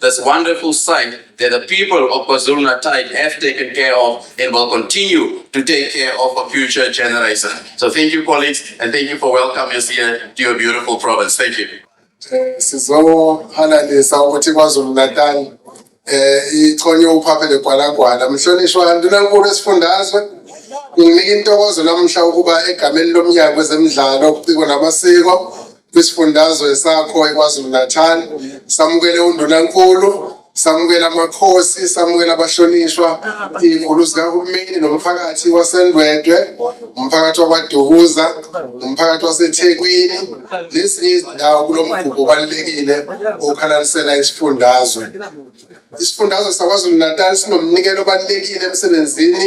this wonderful site that the people of KwaZulu-Natal have taken care of and will continue to take care of for future generations. So thank you, colleagues, and thank you for welcoming us here to your beautiful province. Thank you. Eh, sizohalalisa ukuthi KwaZulu-Natal eh ichonye uphaphe legwalagwala mhlonishwa ndunankulu esifundazwe nginika intokozo namuhla ukuba egameni lomnyango wezemidlalo ubuciko namasiko kwisifundazwe sakho iKwaZulu-Natal samukele undunankulu samukela amakhosi samukela abahlonishwa iy'nkulu zikahulumeni nomphakathi wasendwedwe umphakathi wakwadukuza umphakathi wasethekwini nezinye izindawo kulo mgubho obalulekile okhalalisela isifundazwe isifundazwe sakwazulu-natal sinomnikelo obalulekile emsebenzini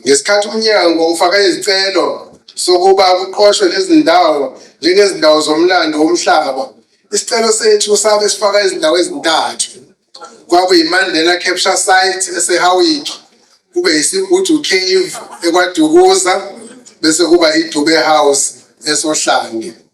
Ngesikhathi umnyango ufaka izicelo sokuba kuqoshwe lezi ndawo njengezindawo zomlando womhlaba, isicelo sethu sabe sifaka izindawo ezintathu. KwakuyiMandela Capture Site eseHowick, kube yiSigudu Cave eKwaDukuza bese kuba iDube House esoHlange.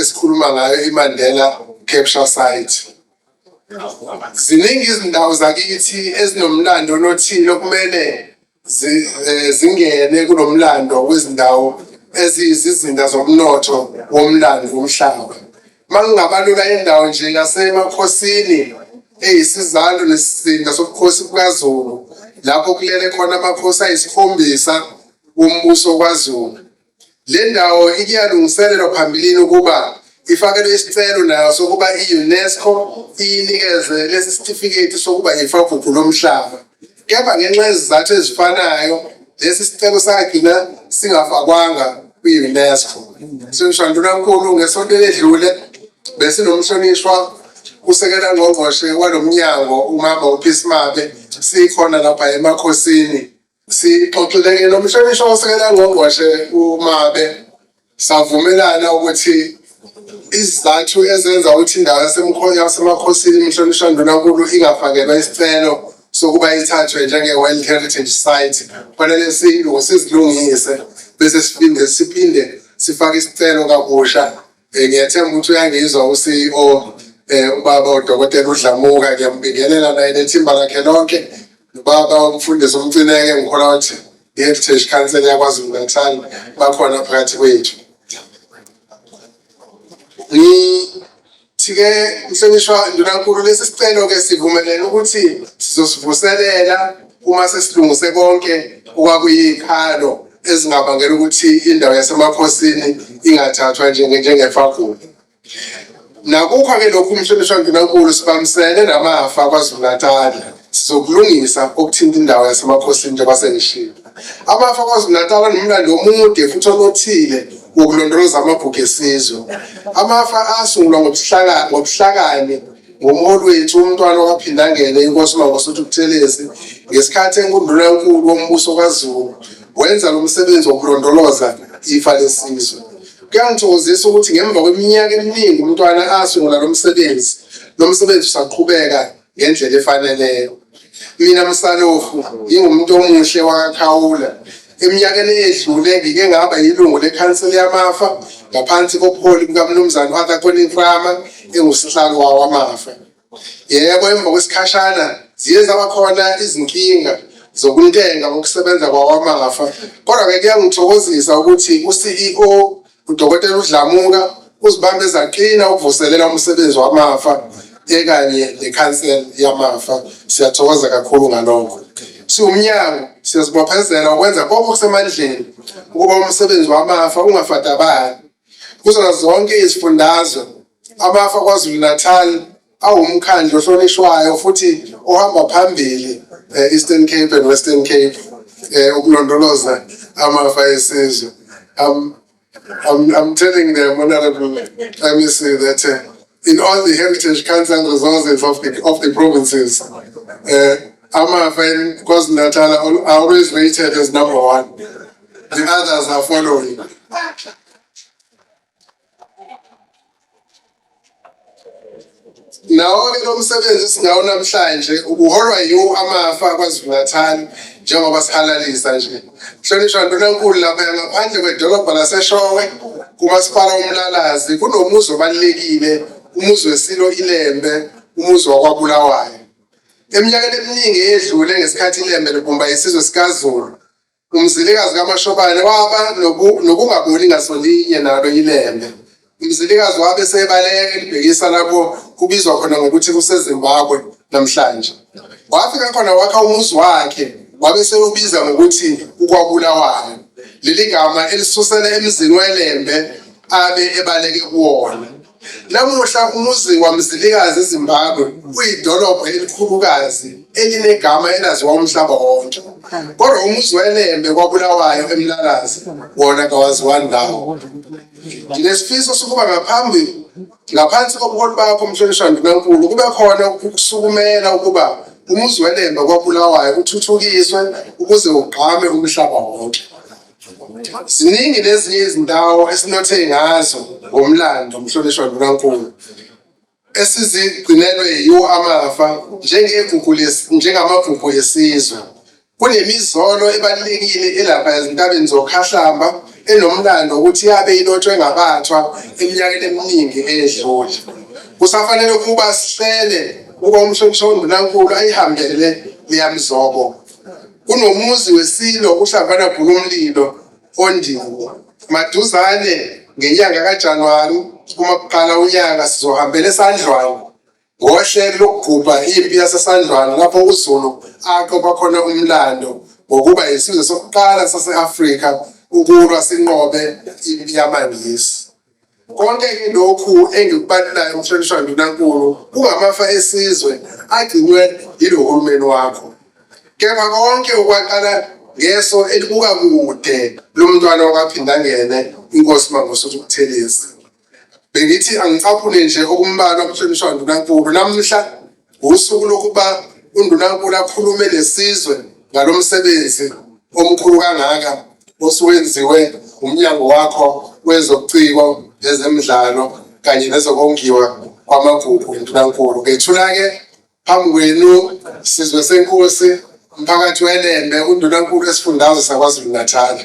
esikhuluma ngayo iMandela Capture Site ziningi izindawo zakithi ezinomlando onothile okumele eh, zingene kunomlando wezindawo eziyizizinda zomnotho womlando womhlaba mangingabalula indawo nje yasemakhosini eyisizalo nesizinda sobukhosi bukazulu lapho kulele khona amakhosi ayisikhombisa wombuso kwaZulu Le ndawo ikuyalungiselelwa phambilini ukuba ifakelwe isicelo nayo sokuba i-UNESCO iyinikeze lesi sitifiketi sokuba yifagugu lomhlaba. Kepha ngenxa yezizathu ezifanayo lesi sicelo sagcina singafakwanga kwi-UNESCO. Mhlonishwa Ndunankulu, ngesonto eledlule besinomhlonishwa usekela ngqongqoshe walo mnyango umama uPhisi Mabe sikhona lapha eMakhosini Sixoxile-ke nomhlonishwa osekela ngqongqoshe uMabe savumelana ukuthi izizathu ezenza ukuthi indawo yasemkhonyo yasemakhosini imhlonishwa ndunankulu ingafakelwa isicelo sokuba ithathwe njenge-world heritage site kufanele silungu sizilungise bese siphinde siphinde sifake isicelo kabusha Eh, ngiyethemba ukuthi uyangizwa uCEO eh ubaba udokotela uDlamuka ngiyambingelela naye nethimba lakhe lonke ubaba umfundisi umcineke ngikholwa ukuthi i-heritage council yakwaZulu Natal bakhona phakathi kwethu ngithike mhlonishwa ndunankulu lesi sicelo ke sivumelene ukuthi sizosivuselela uma sesilungise konke okwakuyikhalo ezingabangela ukuthi indawo yasemakhosini ingathathwa njengefagula nakukho-ke lokhu umhlonishwa ndunankulu sibambisene namafa kwazulu-natali sizokulungisa okuthinta indawo yasemakhosini njengoba sengishiyo amafa kwazulu-natali anomlando omude futhi onothile wokulondoloza amagugu esizwe amafa asungulwa ngobuhlakani Ngomholi wethu umntwana waphindangele inkosi Mangosuthu Buthelezi ngesikhathi enkundula enkulu wombuso kaZulu wenza lo msebenzi wokulondoloza ifa lesizwe. Kuyangithokozisa ukuthi ngemva kweminyaka eminingi umntwana asungula lo msebenzi, lo msebenzi usaqhubeka ngendlela efaneleyo. mina msalofu ngingumuntu omuhle wakakhawula eminyakeni eyedlule ngike ngaba yilungu lekhanseli yamafa ngaphansi kobuholi bukamnumzane u-arthur coninframa engusihlalo wawo amafa yebo emva kwesikhashana ziye zaba khona izinkinga zokuntenga ngokusebenza kwawamafa kodwa-ke kuyangithokozisa ukuthi u-ceo UDokotela uDlamuka uzibambe zaqina ukuvuselela umsebenzi wamafa ekanye nekhansela yamafa siyathokoza kakhulu ngalokho siwumnyango siyazibophezela ukwenza konke okusemandleni ukuba umsebenzi wamafa ungafadabali kuzona zonke izifundazwe amafa kwazulu-natal awumkhandlu ohlonishwayo futhi ohamba phambili e-Eastern Cape and Western Cape eh, ukulondoloza amafa esizwe I'm, I'm, I'm telling the Honorable MEC that uh, in all the heritage council resources of the, of the provinces, uh, Amafa in KwaZulu-Natal are always rated as number one. The others are following. Nawo-ke lo msebenzi esinawo namhlanje ubuholwa yiwo amafa KwaZulu-Natal njengoba sihalalisa nje. Mhlonishwa Ndunankulu laphaya ngaphandle kwedolobha laseShowe kuMasipala uMlalazi kunomuzi obalulekile umuzi weSilo iLembe umuzi wakwaBulawayo. Eminyakeni eminingi eyedlule ngesikhathi iLembe libumba isizwe sikaZulu Umzilikazi kaMashobane waba nokungaboni ngasolinye nalo ilembe. Umzilikazi wabe sebaleka elibhekisa lapho kubizwa khona ngokuthi kuseZimbabwe namhlanje. Wafika khona wakha umuzi wakhe wabe sewubiza ngokuthi ukwabulawayo. Leli gama elisusela emzini welembe abe ebaleke kuwona. Namuhla umuzi waMzilikazi eZimbabwe uyidolobha elikhulukazi elinegama elaziwa umhlaba wonke. Kodwa umuzi weLembe kwaBulawayo eMlalazi wona kawaziwa ndawo. Nginesifiso sokuba ngaphambi ngaphansi kobuholi bakho Mhlonishwa Ndunankulu kube khona ukusukumela ukuba umuzi weLembe kwaBulawayo uthuthukiswe ukuze ugqame umhlaba wonke. Ziningi nezinye izindawo esinothe ngazo ngomlando umhlonishwa Ndlunankulu esizigcinelwe yiwo amafa njengegugu njengamagugu yesizwe. Kunemizolo ebalulekile elapha ezintabeni zokhahlamba enomlando ukuthi yabe ilotshwe ngabathwa eminyakeni eminingi edlule. Kusafanele ukuba sihlele ukuba umhlonishwa uNdunankulu ayihambele leyamzobo. Kunomuzi weSilo uHlambana Bhukumlilo oNdiwo. Maduzane ngenyanga kaJanuwari uma kuqala unyaka sizohambela eSandlwana ngohlelo lokugubha impi yaseSandlwana lapho uZulu aqopha khona umlando ngokuba yisizwe sokuqala sase-Afrika ukulwa sinqobe impi yamaNgisi. Konke-ke lokhu engikubalelayo mhlonishwa ndunankulu kungamafa esizwe agcinwe yilo hulumeni wakho kepha konke okwaqala ngeso elibuka kude lomntwana wakwaphindangene inkosi mangosuthu kuthelezi bengithi angicaphune nje okumbalwa mhlonishwa ndunankulu namhla Usuku lokuba uNdunankulu akhulume nesizwe ngalo msebenzi omkhulu kangaka osuwenziwe umnyango wakho wezobuciko ezemidlalo kanye nezokongiwa kwamagugu uNdunankulu. Ngethula-ke phambi kwenu sizwe senkosi umphakathi weLembe uNdunankulu esifundazwe saKwaZulu-Natal.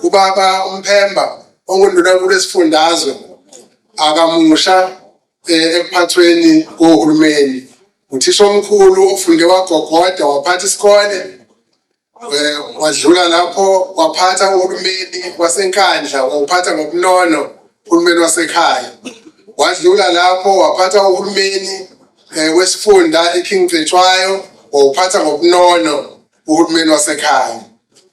Ubaba uMphemba onguNdunankulu esifundazwe akamusha eh, ekuphathweni kohulumeni uthisha omkhulu ofunde wagogoda waphatha isikole eh, wadlula lapho waphatha uhulumeni wasenkandla wawuphatha ngobunono uhulumeni wasekhaya wadlula lapho waphatha uhulumeni eh, wesifunda iking cetshwayo wawuphatha ngobunono uhulumeni wasekhaya.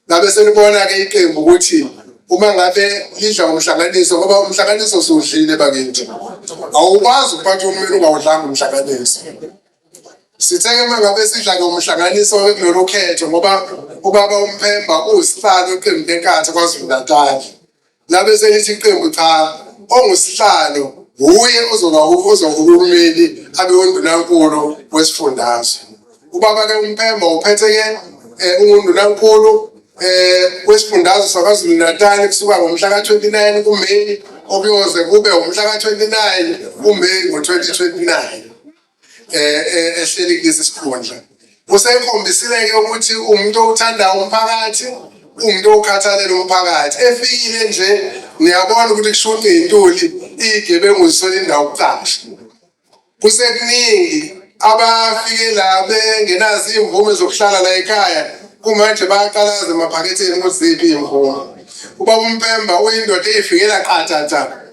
Ngabe selibona-ke iqembu ukuthi uma ngabe lidla umhlanganiso ngoba umhlanganiso siwudlile bakithi awukwazi ukuphatha umlilo ungawudlanga umhlanganiso sitheke uma ngabe sidla ngomhlanganiso kulolu khetho ngoba ubaba umphemba uwusihlalo eqembu lenkatha kwazulu natali labe selithi iqembu cha ongusihlalo wuye ozoba ozoba uhulumeni abe undunankulu wesifundazwe ubaba ke umpemba uphethe ke eh, ungundunankulu eh wesifundazwe sakwaZulu Natal kusuka ngomhla ka-29 kuMeyi okuyoze kube umhla ka-29 kuMeyi ngo-2029 eh, eh ehleli kulesi sikhundla usekhombisile-ke ukuthi umuntu owuthanda umphakathi umuntu owukhathalela umphakathi efikile nje niyabona ukuthi kushunqa iy'ntuli iy'gebengu zisole indawo kucasha kusekuningi abafike la bengenazo iy'mvume zokuhlala la ekhaya kumanje bayaqalaza emaphaketheni ukuthi ziphi iy'mvume ubaba umpemba uyindoda eyifikela qathatha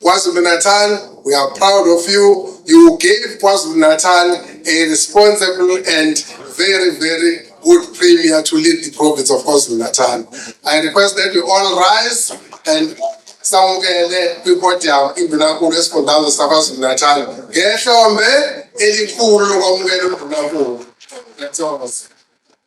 KwaZulu-Natal, we are proud of you. You gave KwaZulu-Natal a responsible and very, very good premier to lead the province of KwaZulu-Natal. I request that we all rise and samukele kwi-podium indunankulu esifundazwe sakwazulu-natal ngehlombe elikhulu lokwamukela undunankulu That's all.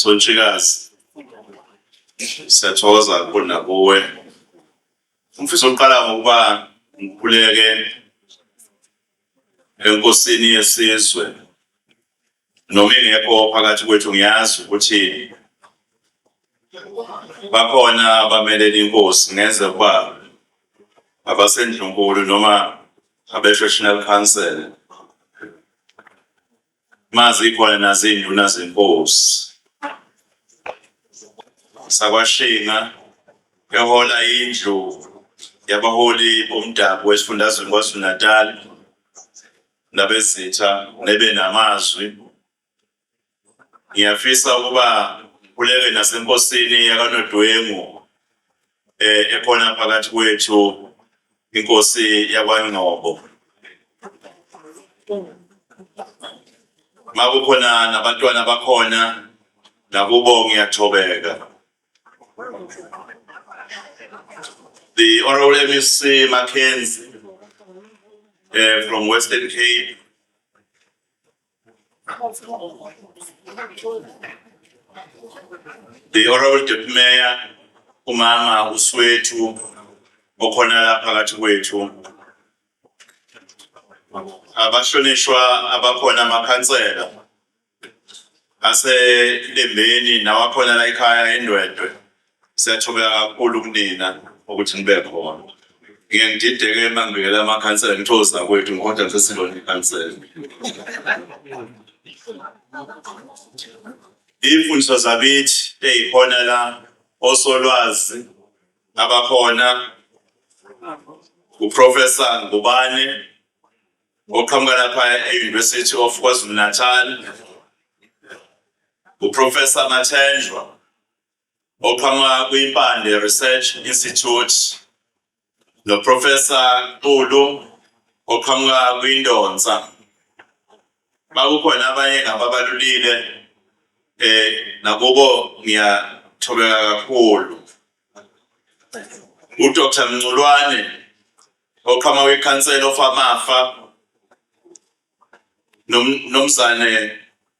Sontshikazi siyathokoza kakhulu nakuwe umfisa oqala ngokuba ngikhuleke enkosini yesizwe noma ingekho phakathi kwethu ngiyazi ukuthi bakhona abamelele inkosi ngenze ukuba abasendlunkulu noma abe-traditional council mazikhona nazinduna zenkosi sakwashinga ehola indlu yabaholi bomdabu wesifundazweni kwazulu-natal nabezitha nebe namazwi ngiyafisa ukuba kuleke nasenkosini yakanodwengu eh ekhona phakathi kwethu inkosi yakwaNgcobo makukhona nabantwana bakhona nakubo ngiyathobeka the honorable MEC Mackenzie uh, from Western Cape The Honorable Deputy Mayor, umama uSwethu okhona la phakathi kwethu. Abahlonishwa abakhona amakhansela aselembeni nawakhona la ekhaya eNdwedwe. Siyathobeka kakhulu kunina ukuthi nibe khona. Ngiye ngidideke uma ngibikela amakhansela ngithozi nakwethu ngihoda ngisesilona ikhansela. Iy'mfundiso zakithi ey'khona la osolwazi abakhona uprofesa Ngubane oqhamuka lapha e-University of KwaZulu-Natal uprofesa Mathenjwa oqhamuka kwiMpande Research Institute noProfessor Xulu oqhamuka kwiNdonsa. Bakukhona abanye ngababalulile eh nakubo ngiyathobeka kakhulu. UDr Mnculwane oqhamuka kwiCouncil of Amafa nomzane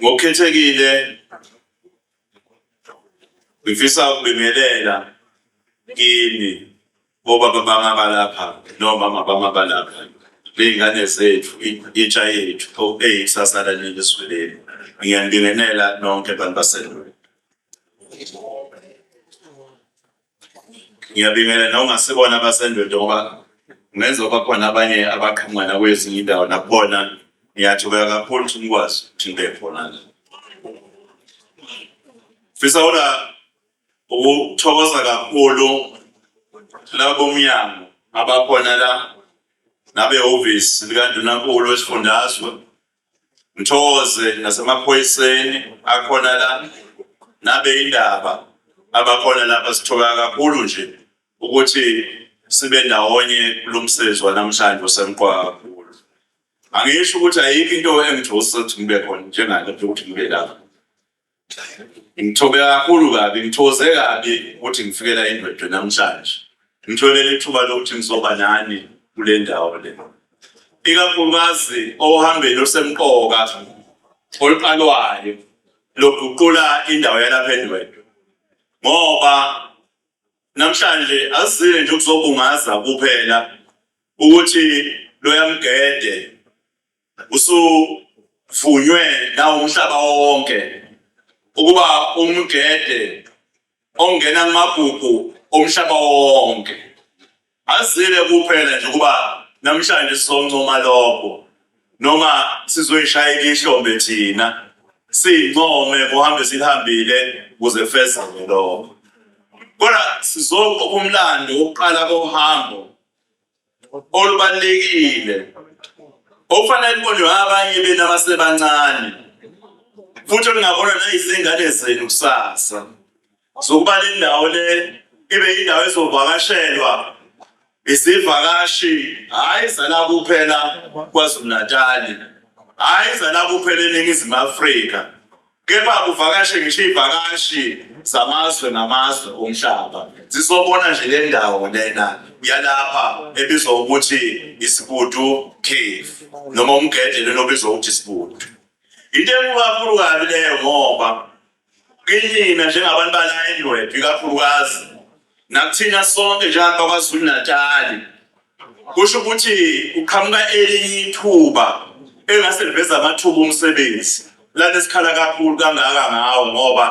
Ngokukhethekile ngifisa ukubingelela kini bobaba bami abalapha nomama bami abalapha ney'ngane zethu intsha yethu eyikusasa laleli zwe leli ngiyanibingelela nonke bantu baselweni ngiyabingelela nawungasibona abasendoda ngoba ngenza ukuba khona abanye abaqhamuka nakwezinye indawo nakubona ngiyathubeka kakhulu ukuthi nikwazi ukuthi nibe khona la fisa ula ukuthokoza kakhulu labo mnyango abakhona la nabehhovisi likaNdunankulu wesifundazwe Mthokoze nasemaphoyiseni akhona la nabe indaba abakhona lapha sithoka kakhulu nje ukuthi sibe ndawonye kulo msebenzi wanamhlanje osemqoka kakhulu. Angisho ukuthi ayikho into engijose ukuthi ngibe khona njengale ukuthi ngibe lapha. Ngithobe kakhulu kabi, ngithoze kabi ukuthi ngifikela indwedwe namhlanje. Ngitholele ithuba lokuthi ngizoba nani kule ndawo le. Ikakhulukazi ohambeni olusemqoka oluqalwayo lokuguqula indawo yalapha endwedwe. Ngoba namhlanje asizile nje ukuzobungaza kuphela ukuthi loyamgede usuvunywe nawumhlaba wonke ukuba umgede ongena kumagugu omhlaba wonke azile kuphela nje ukuba namhlanje sizoncoma lokho noma sizoyishayela ihlombe thina siyincome kuhambe silihambile kuze fezeke lokho kodwa sizoqopha umlando wokuqala kohambo olubalulekile okufanele libonwe abanye benu abasebancane futhi olungabona nayizingane zenu kusasa zokuba le ndawo le ibe yindawo ezovakashelwa izivakashi hhayi zala kuphela kwazulu-natali hhayi zala kuphela eningizimu afrika kepha kuvakashe ngisho iy'vakashi zamazwe namazwe omhlaba zizobona nje le ndawo lena yalapha ebizwa ukuthi isibudu cave noma umgede lena obizwa ukuthi isibudu into enkulu kabi leyo ngoba kinina njengabantu bala endwedwe ikakhulukazi nakuthina sonke njengakwakwazulu natali Kusho ukuthi kuqhamuka elinye ithuba engase liveza amathuba omsebenzi lana esikhala kakhulu kangaka ngawo ngoba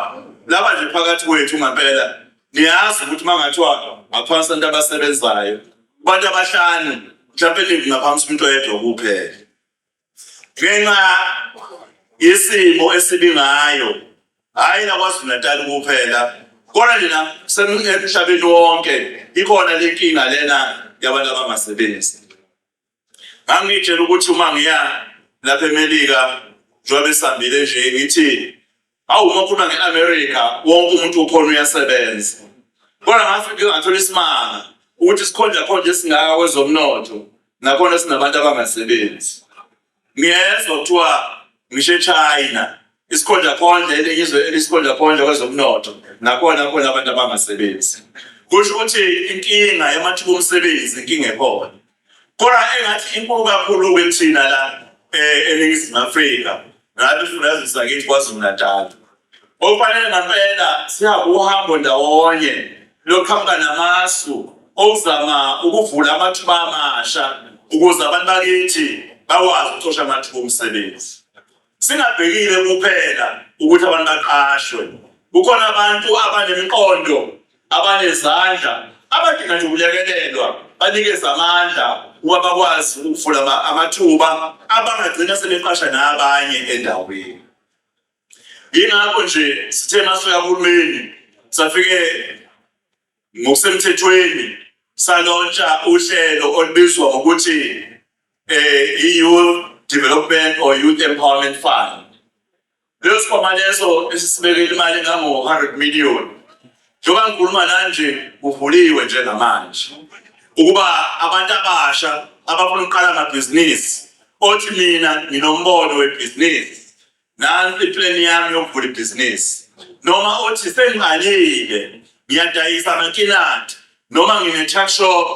laba nje phakathi kwethu ngempela niyazi ukuthi uma ngathiwa ngaphansi abantu abasebenzayo abantu abahlanu mhlawumpe ningi ngaphansi umuntu oyedwa kuphela ngenxa yesimo esibi ngayo hhayi nakwazulu-natal kuphela kodwa nina semhlabeni wonke ikhona le nkinga lena yabantu abangasebenzi ngangitshela ukuthi uma ngiya lapha emelika njengoba esihambile nje ngithi Awu uma ukhuluma nge-America wonke umuntu ukhona uyasebenza. Kodwa ngathi ngike ngathola isimanga ukuthi sikhonja khonje esingaka kwezomnotho nakhona sinabantu abangasebenzi. Ngiyezwa kuthiwa ngisho eChina isikhonja khonje elizwe elisikhonja khonje kwezomnotho nakhona khona abantu abangasebenzi. Kusho ukuthi inkinga yamathuba omsebenzi inkinga ekhona. Kodwa engathi inkulu kakhulu kithina la eh, eNingizimu Afrika ngabe sifundaze sakithi KwaZulu-Natal. Okufanele ngampela sihamba uhambo ndawonye lokuqhamuka namasu okuzama ukuvula amathuba amasha ukuze abantu bakithi bakwazi ukucosha amathuba omsebenzi. Singabhekile kuphela ukuthi abantu baqashwe, kukhona abantu abanemiqondo, abanezandla, abadinga nje ukulekelelwa, banikeze amandla ukuba bakwazi ukuvula amathuba abangagcina sebeqasha nabanye endaweni. Yingakho nje sithe masifika kuhulumeni safike Ngokusemthethweni salontsha uhlelo olubizwa ngokuthi eh i-Youth Development or Youth Empowerment Fund. Leso sikhwama leso esisibekele imali engango-100 million. Njengoba ngikhuluma nanje kuvuliwe nje namanje ukuba abantu abasha abafuna ukuqala amabhizinisi othi mina nginombono webhizinisi Nansi iplan yami yokuvula ibhizinisi. Noma uthi sengiqalile ngiyadayisa amakinati noma ngine-tuck shop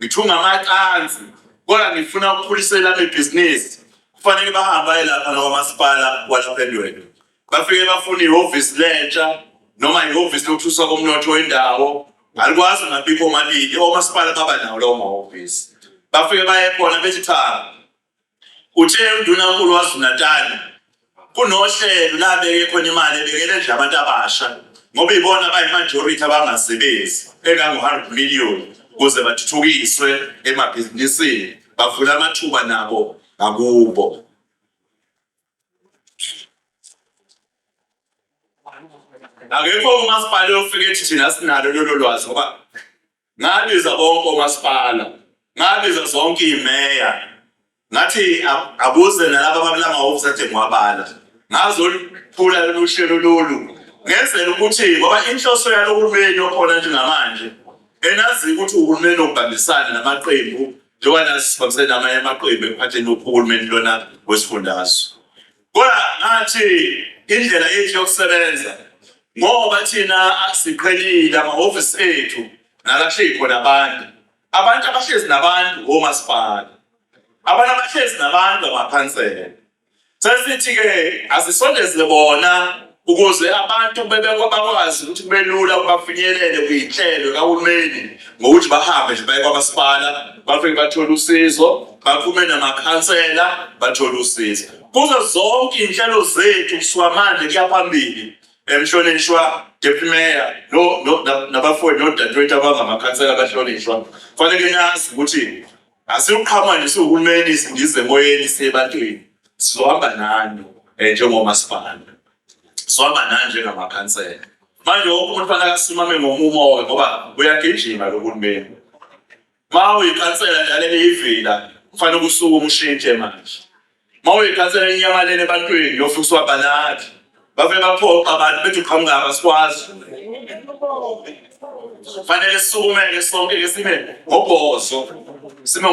ngithunga amacansi kodwa ngifuna ukukhulisa elami ibhizinisi kufanele bahambe aye lapha nakwamasipala walapha endweni bafike bafuna ihhovisi lentsha noma ihhovisi lokuthuswa komnotho wendawo alikwazi ngabikho omabili omasipala baba nawo lawo mahhovisi bafike baye khona bethi cha Uthe uNdunankulu waZulu-Natal kunohlelo la abeke khona imali ebekele nje abantu abasha ngoba ibona abayimajority abangasebenzi engango-100 million ukuze bathuthukiswe emabhizinisini bavule amathuba nabo ngakubo. Akekho umasipala ofike ethi thina sinalo lolo lwazi ngoba ngabiza bonke omasipala ngabiza zonke imeya ngathi akuze nalaba babula amahhovisi athe ngiwabala ngazoluphula lolu hlelo lolu ngenzela ukuthi ngoba inhloso yalo hulumeni okhona njengamanje enazi ukuthi uhulumeni obambisana namaqembu njengoba nasibambisene namanye amaqembu ekuphatheni uhulumeni lona wesifundazwe Kodwa ngathi indlela yethu yokusebenza ngoba thina siqhelile amahhovisi ethu nalahleli khona abantu abantu abahlezi nabantu omasipala abantu abahlezi nabantu amakhansela sesithi-ke asisondeze bona ukuze abantu bakwazi ukuthi kube lula bafinyelele kwiy'nhlelo kahulumeni ngokuthi bahambe nje baye kwamasipala bafike bathole usizo baphume namakhansela bathole usizo kuzo zonke iy'nhlelo zethu kusuka manje kuya phambili emhlonishwa deputy mayor nabafowethu nodadewethu abangamakhansela abahlonishwa kufanele nazi ukuthi Asiluqhama nje siwuhulumeni singize emoyeni siyebantwini. Sizohamba nani eh, njengomasipala. Sizohamba nani njengamakhansela. Manje wonke umuntu fanele asimame ngomumo ngoba uyagijima lo hulumeni. Uma uyikhansela njalo eliyivila kufanele usuke umshintshe manje. Uma uyikhansela inyamalele ebantwini yofika usiwabanadi bave baphoqa abantu bethi uqhamuka abasikwazi fanele sisukumele sonke ke sibe ngobhozo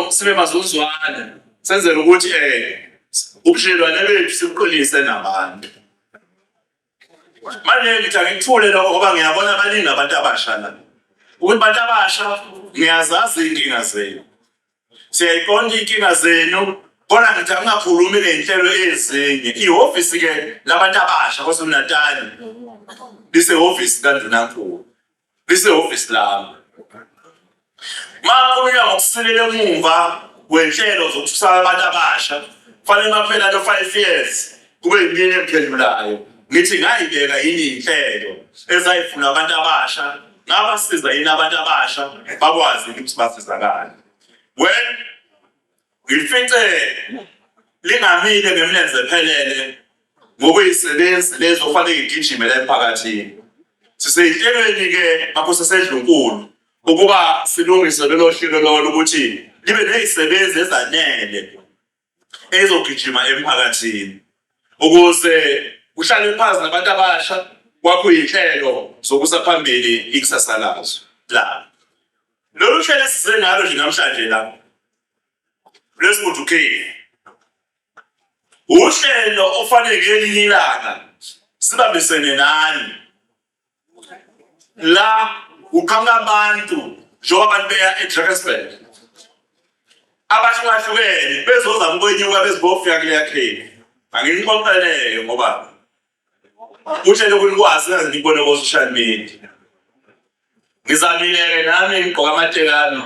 sibe mazuzwane senzele ukuthi um ubudlelwane bethu sibuqinise nabantu Manje ngithi angikuthule lokho ngoba ngiyabona baningi abantu abasha la. Ukuthi abantu abasha ngiyazazi iy'nkinga zenu. Siyayiqonda iy'nkinga zenu kodwa ngithi angingakhulumi ngey'nhlelo ezinye. Ihhovisi-ke labantu abasha KwaZulu-Natali lisehhovisi kaNdunankulu. lisehhovisi lami. Makhulunywa ngokusilela emuva kwenhlelo zokususa abantu abasha kufanele maphela no 5 years kube yimini emphendulayo ngithi ngayibeka yini inhlelo ezayifuna abantu abasha ngabasiza yini abantu abasha bakwazi ukuthi basizakale well Ngilifice lingamile ngemlenze ephelele ngokuyisebenzi lezi okufanele ngigijime la emphakathini. Siseyihlelweni-ke ngakho sesedlunkulu ukuba silungise lelo hlelo lolo ukuthi libe nezisebenzi ezanele ezogijima emphakathini ukuze kuhlale phansi nabantu abasha kwakho izinhlelo zokusa phambili ikusasa lazo la Lolu hlelo esize ngalo nje namhlanje la lwesibudukeni uhlelo ofanele ngelinye ilanga sibambisene nani la uqhamuka abantu njengoba abantu beya eDrakensberg abahlukahlukene bezozama ukwenyuka bezibofika kuleya kheli anginixoxeleke ngoba Uthe lokhu nikwazi naze nibone ko-social media. Ngizamile-ke nami ngigqoka amatekano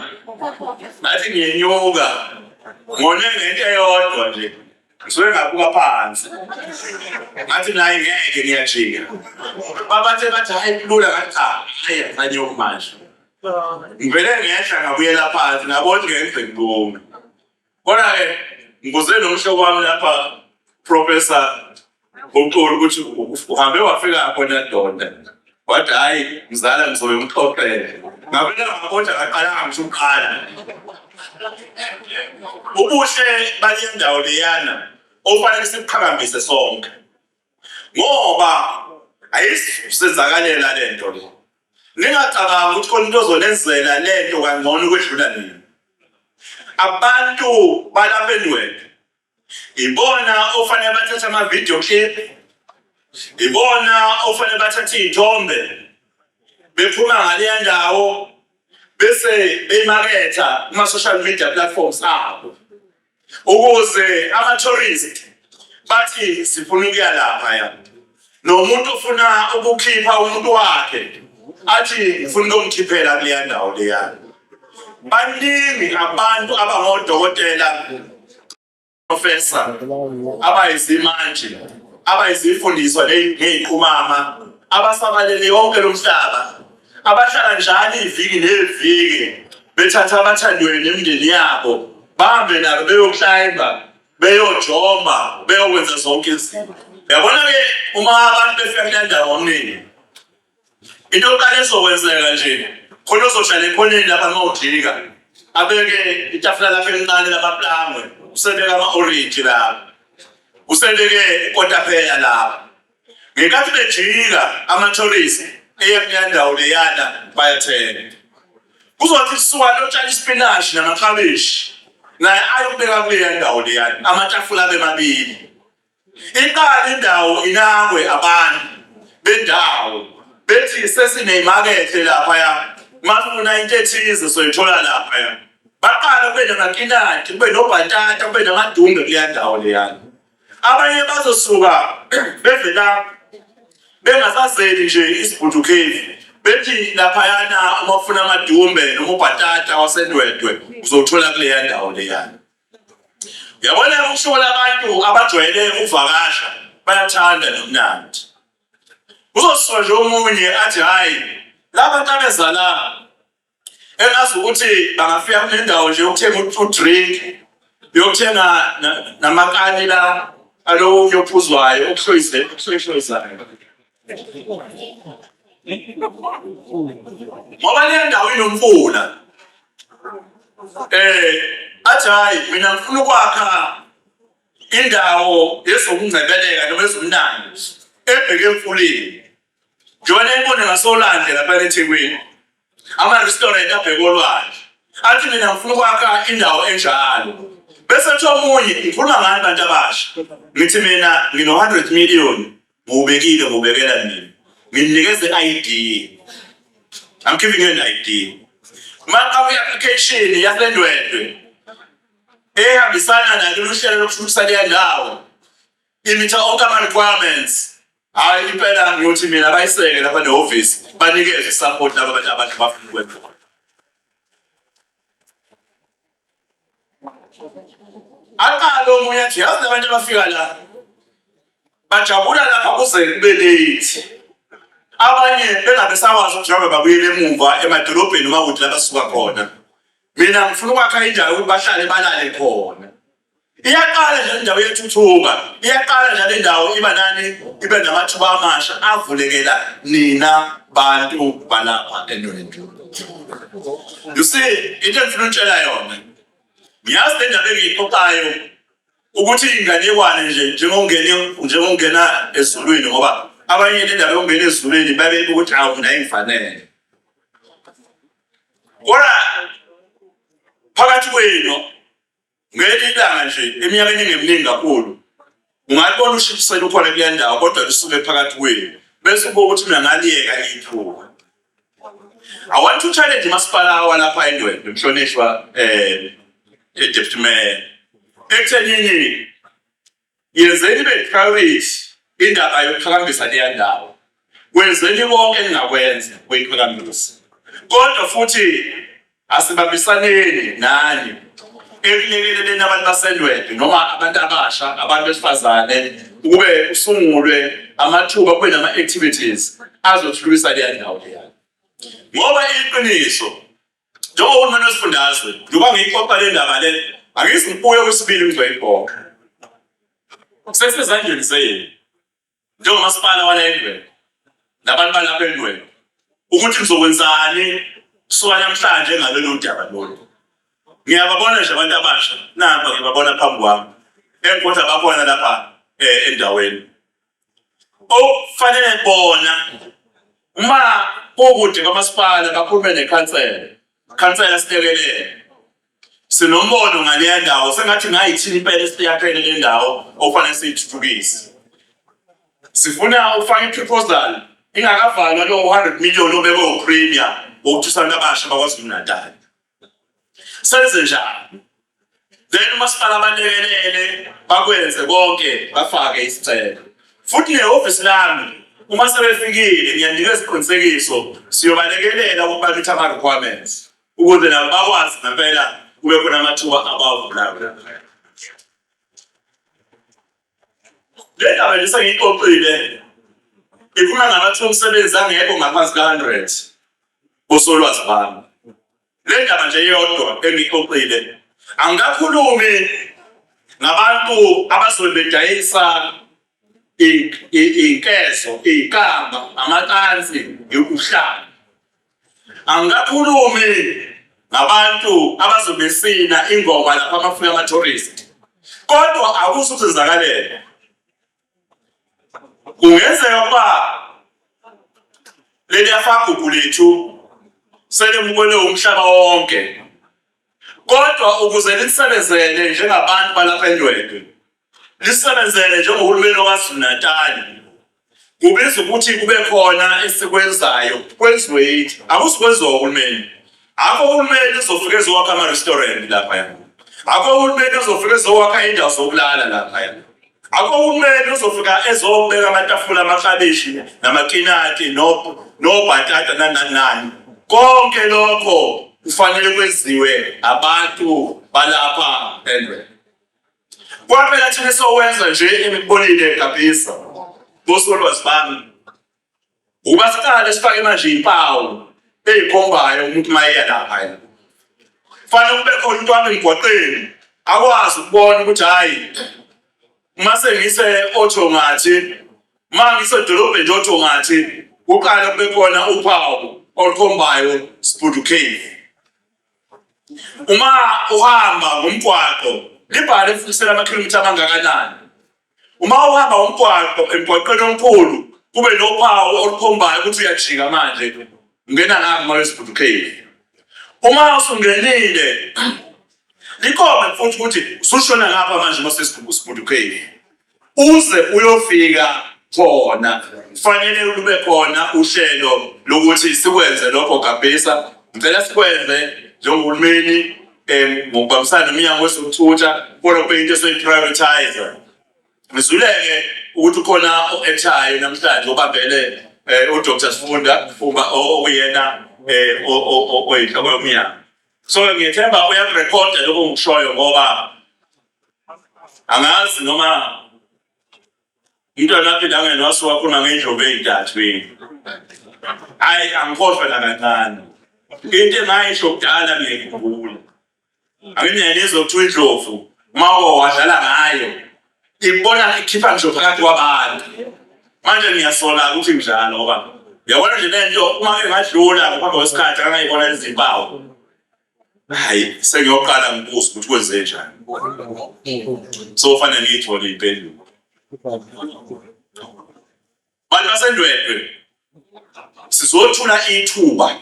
ngathi ngiyenyuka ngone ngento eyodwa nje ngisuke ngabuka phansi ngathi naye ngeke ngiyajika babathe bathi hayi kulula ngathi cha hayi nganyuka manje ngivele ngehla ngabuyela phansi ngabona ngeke ngibume Kodwa-ke ngibuze nomhlobo wami lapha professor uxulu ukuthi uhambe wafika khona donda wathi hhayi mzala ngizobe ngixoxele ngabela ngakonja ngaqalanga ngisho ukuqala ubuhle bale ndawo leyana ofanele sibuqhakambise sonke ngoba ayisenzakalela le nto le ningacabangi ukuthi khona into ozonenzela le nto kangcono ukwedlula nina abantu balapha enwebe ibona ofanele bathathe amavidiyo clip ibona ofanele bathathe iy'thombe bephuma ngaleya ndawo bese beyimaketha kuma-social media platforms abo ukuze ama-tourist bathi sifuna ukuya lapha ya nomuntu ofuna ukukhipha umuntu wakhe athi ngifuna ukumkhiphela kuleya ndawo leya baningi abantu abangodokotela professor abayizimanje abayizifundiswa ngey'qumama abasabalele yonke lo mhlaba Abahlala njalo iviki neviki bethatha abathandiweyo nemindeni yabo bahambe nabo beyoklayimba beyojoma beyokwenza zonke izinto yabona ke uma abantu befika kule ndawo omningi into yokuqala ezokwenzeka nje khona ozohlala ekhoneni lapha uma udlika abeke itafula lakhe elincane lamaplangwe usebeke ama-orenji lapha usebeke ikotapeya lapha Ngenkathi bejika amathorisi eya kuleya ndawo leyana bayathenga. Kuzothi kusuka lotshani isipinashi namakhabishi naye ayokubeka kuleya ndawo leyana amatafula abe mabili. Iqala indawo inakwe abantu bendawo bethi sesineyimakethe laphaya masifuna into ethize soyithola laphaya. Baqala kube namakinati kube nobhatata kube namadumbe kuleya ndawo leyana. abanye bazosuka bevela bengasazeli nje isibhudukeli bethi laphayana uma ufuna amadumbe noma ubhatata wasendwedwe uzowuthola kuleya ndawo leyana yabona ukushola abantu abajwayele ukuvakasha bayathanda nomnandi uzosola nje omunye athi hhayi laba ntabezalana engazi ukuthi bangafika kunendawo nje yokuthenga udrink yokuthenga namakani la alowo yophuzwayo okuhloyise okuhloyisayo ngoba le ndawo inomfula eh athi hayi mina ngifuna ukwakha indawo yezokungcebeleka noma ezomnandi ebheke emfuleni njengoba nayibona ngasolwandle lapha ethekwini ama-restaurant abheke olwandle athi mina ngifuna ukwakha indawo enjalo bese kuthi omunye ngikhuluma ngani bantu abasha ngithi mina ngino-hundred million ngiwubekile ngiwubekela mina nginikeze i-id i'm giving you an id maka kwi-application yasendwedwe ehambisana nalolu hlelo lokuthuthukisa leya ndawo imitha onke ama-requirements Hayi impela ngiyothi mina bayiseke lapha nehhovisi banikeze support laba bantu abantu bafuna ukwenza. Aqala omunye athi yazi abantu abafika la bajabula lapha kuze kube late. Abanye bengabe sawazi ukuthi njengoba babuyele emuva emadolobheni uma kuthi la basuka khona. Mina ngifuna ukwakha indawo ukuthi bahlale balale khona. Iyaqala nje indawo yethuthuka, iyaqala nje lendawo iba nani, ibe namathuba amasha avulekela nina bantu balapha endaweni. You see, into engifuna ukutshela yona. Ngiyazi le ndaba engiyixoxayo ukuthi inganekwane nje njengongena njengongena ezulwini ngoba abanye le ndaba yokungena ezulwini babe ukuthi awu mina ingifanele. Kodwa phakathi kwenu Ngelinye ilanga nje eminyakeni engeminingi kakhulu ungalibona ushipisela ukhona kule ndawo kodwa lisuke phakathi kwenu bese ubuka ukuthi mina ngaliyeka ithuba I want to challenge umasipala walapha eNdwendwe mhlonishwa eh deputy mayor ekuthenini Yenzeni ibe priority indaba yokuqhakambisa leya ndawo. Kwenzeni konke engakwenza kuyiqhakambisa. Kodwa futhi asibambisaneni nani ekulekeleleni abantu basendwedwe noma abantu abasha abantu besifazane ukube usungulwe amathuba kube nama-activities azothuthukisa leya ndawo leya ngoba iqiniso Njengohulumeni wesifundazwe, njengoba ngiyixoxa le ndaba le, angithi ngibuye kwesibili ngizweyibhoka. Sesezandleni zenu njengomasipala wala endweni nabantu balapha endweni ukuthi nizokwenzani kusuka namhlanje ngalolu daba lolu. Ngiyababona nje abantu abasha nabo ngibabona phambi kwami engikhotha bakhona lapha eh, endaweni okufanele bona uma kukude kwamasipala kakhulume nekhansela khansela silekelele sinombono ngaleya ndawo sengathi ngayithini impela esiyakhele le ndawo okufanele siyithuthukise sifuna ukufaka i-proposal ingakavalwa lo-100 million obekwe upremia wokuthusana abasha bakwaZulu-Natal senze njani then umasipala abalekelele bakwenze konke bafake isicelo futhi nehhovisi lami uma sebefikile ngiyanika isiqinisekiso siyobalekelela ukuba kithi ama-requirements ukuze nabo bakwazi ngempela kube khona amathuba abavulayo Le ndaba nje sengiyixoxile ifuna ngabathi omsebenzi angekho ngaphansi ka-hundred kosolwazi bami le ndaba nje yodwa engiyixoxile angikakhulumi ngabantu abazobe bedayisa inkezo iy'kamba amatansi yokuhlala Angikakhulumi ngabantu abazobesina ingoma lapha amafika ama-tourist kodwa akusho ukuthi ngizakalele kungenzeka ukuba leliyafagugu lethu selimukele umhlaba wonke kodwa ukuze lisebenzele njengabantu balapha eNdwedwe lisebenzele njengohulumeni waKwaZulu-Natali kubiza ukuthi kube khona esikwenzayo kwenziwe yithi akusikwenziwa uhulumeni akho uhulumeni uzofika ezowakha ama-restaurant laphaya akho uhulumeni uzofika ezowakha indawo zokulala laphaya Akho uhulumeni uzofika ezobeka amatafula amaklabishi namakinati nobhatata nanani nani. Konke lokho kufanele kwenziwe abantu balapha endwe. Kwaphela thina sowenza nje emibonile egabhisa. Bosolwazi bami Uma siqale sifake manje impawu eyikhombayo umuntu uma eya lapha yena kufanele kube khona into wami emgwaqeni akwazi ukubona ukuthi hhayi uma sengise otho ngathi uma ngisedolobheni nje otho ngathi kuqale kube khona uphawu olukhombayo sibhudu cave uma uhamba ngomgwaqo libhale funisela amakhilomitha amangakanani uma uhamba umgwaqo emgwaqeni omkhulu kube nophawu olukhombayo ukuthi uyajika manje ungena ngapha uma wesibhudukeli uma usungenile likhona futhi ukuthi usushona ngapha manje uma sesibhudukeli uze uyofika khona kufanele lube khona uhlelo lokuthi sikwenze lokho gabhisa ngicela sikwenze njengohulumeni um ngokubambisana nomnyango wezokuthutha kodwa kube into esoyi-prioritize ngizuleke ukuthi ukhona o-etshayo namhlanje obambele um udr sifunda uma okuyena um oyinhloko yomnyango so ngiyethemba uyakurekhoda lokho ngikushoyo ngoba angazi noma Intwanaphi nange nasiwakhona ngendlovu eyintathu yini hayi angikhohlwe nakancane into engayisho kudala ngiyayikhumbula anginiyayinizwa kuthiwa indlovu uma wadlala ngayo ibona ikhipha ngisho phakathi kwabantu manje ngiyasola ukuthi njalo ngoba yabona nje lento uma engadlula ngaphambi kwesikhathi angayibona izimpawu hayi sengiyoqala ngibuze ukuthi kwenze njani so kufanele ngiyithole impendulo bantu basendwedwe sizothula ithuba